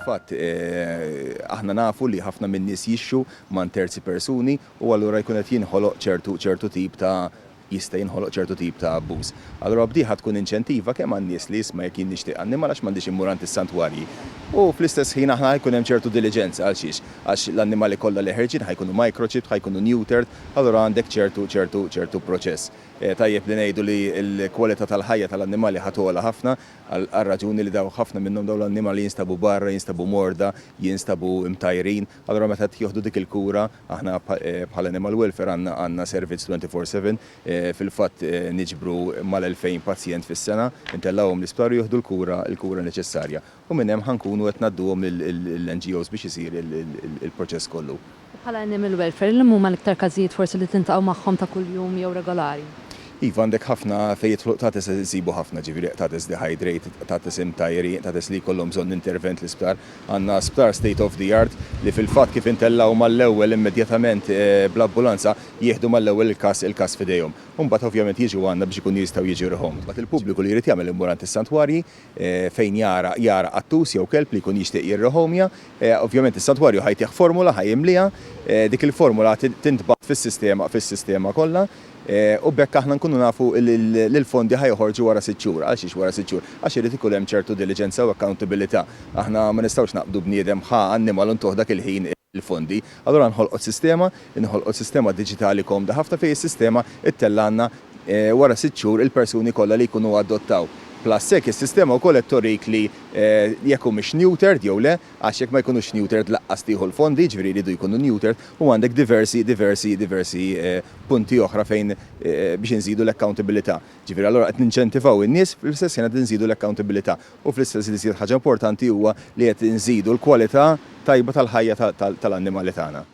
Fil-fatt, aħna nafu li ħafna min-nies jixxu man terzi persuni u allura jkun qed jinħoloq ċertu ċertu tip ta' jista' jinħoloq ċertu tip ta' abbuż. Allura b'dieħa tkun inċentiva kemm għan-nies li isma' jekk jien nixtieq annimal għax m'għandix immur għand is-santwarji u fl-istess ħin aħna ħa jkun hemm ċertu diliġenza għalxiex? Għax l-annimali kollha li ħerġin ħa jkunu microchipped, ħa jkunu neutered, allura għandek ċertu ċertu ċertu proċess. Tajjeb li ngħidu li l-kwalità tal-ħajja tal-annimali ħa togħla ħafna għar-raġuni li dawk ħafna minnhom dawn l-annimali jinstabu barra, jinstabu morda, jinstabu mtajrin. Allura meta qed jieħdu dik il-kura, aħna bħala Animal Welfare għandna għandna servizz twenty four seven, fil-fatt niġbru mal-elfejn pazjent fis-sena, intellgħuhom l-isptar u jieħdu l-kura l-kura neċessarja. U minn hemm ħa nkunu qed ngħadduhom lill-NGOs biex isir il-proċess kollu. U bħala Animal Welfare, liema huma l-iktar każijiet forsi li tintlaqgħu magħhom ta' kuljum jew regolari? Iva, għandek ħafna fejn jidħlu qtates qed insibu ħafna, ġifieri qtates dehydrate, qtates imtajjrin, qtates li jkollhom bżonn intervent l-isptar. Għandna sptar state of the art li fil-fatt kif intellgħu mal-ewwel immedjatament bl-ambulanza jieħdu mal-ewwel il-każ il-każ f'idejhom. U mbagħad ovvjament jiġu għandna biex ikunu jistgħu jiġu rehomd. Mbagħad il-pubbliku li jrid jagħmel imur għand is-santwarji fejn jara jara qattus jew kelb li jkun jixtieq jirrehomja, ovvjament is-santwarju ħa jtih formula, ħa jimlieha, dik il-formula ħa tintbagħat fis-sistema fis-sistema kollha, u b'hekk aħna nkunu nafu li l-fondi ħa joħorġu wara sitt xhur. Għal xiex wara sitt xhur? Għax irid ikun hemm ċertu diliġenza u accountabilità. Aħna ma nistgħux naqbdu bniedem ħa annimal u ntuh dak il-ħin l-fondi. Allura nħolqot sistema, inħolqot sistema diġitali komda ħafna fejn is-sistema ttellgħalna wara sitt xhur il-persuni kollha li jkunu adottaw. Plus hekk is-sistema wkoll qed torik li jekk humiex neutered jew le, għax jekk ma jkunux neutered laqqas tieħu l-fondi, jiġifieri jridu jkunu neutered u għandek diversi, diversi, diversi punti oħra fejn biex inżidu l-accountabilità. Ġifieri allura qed ninċentivaw in-nies fl-istess ħin qed inżidu l-accountabilità. u fl-istess l-iżjed ħaġa importanti huwa li qed inżidu l-kwalità tajba tal-ħajja tal-annimali tagħna.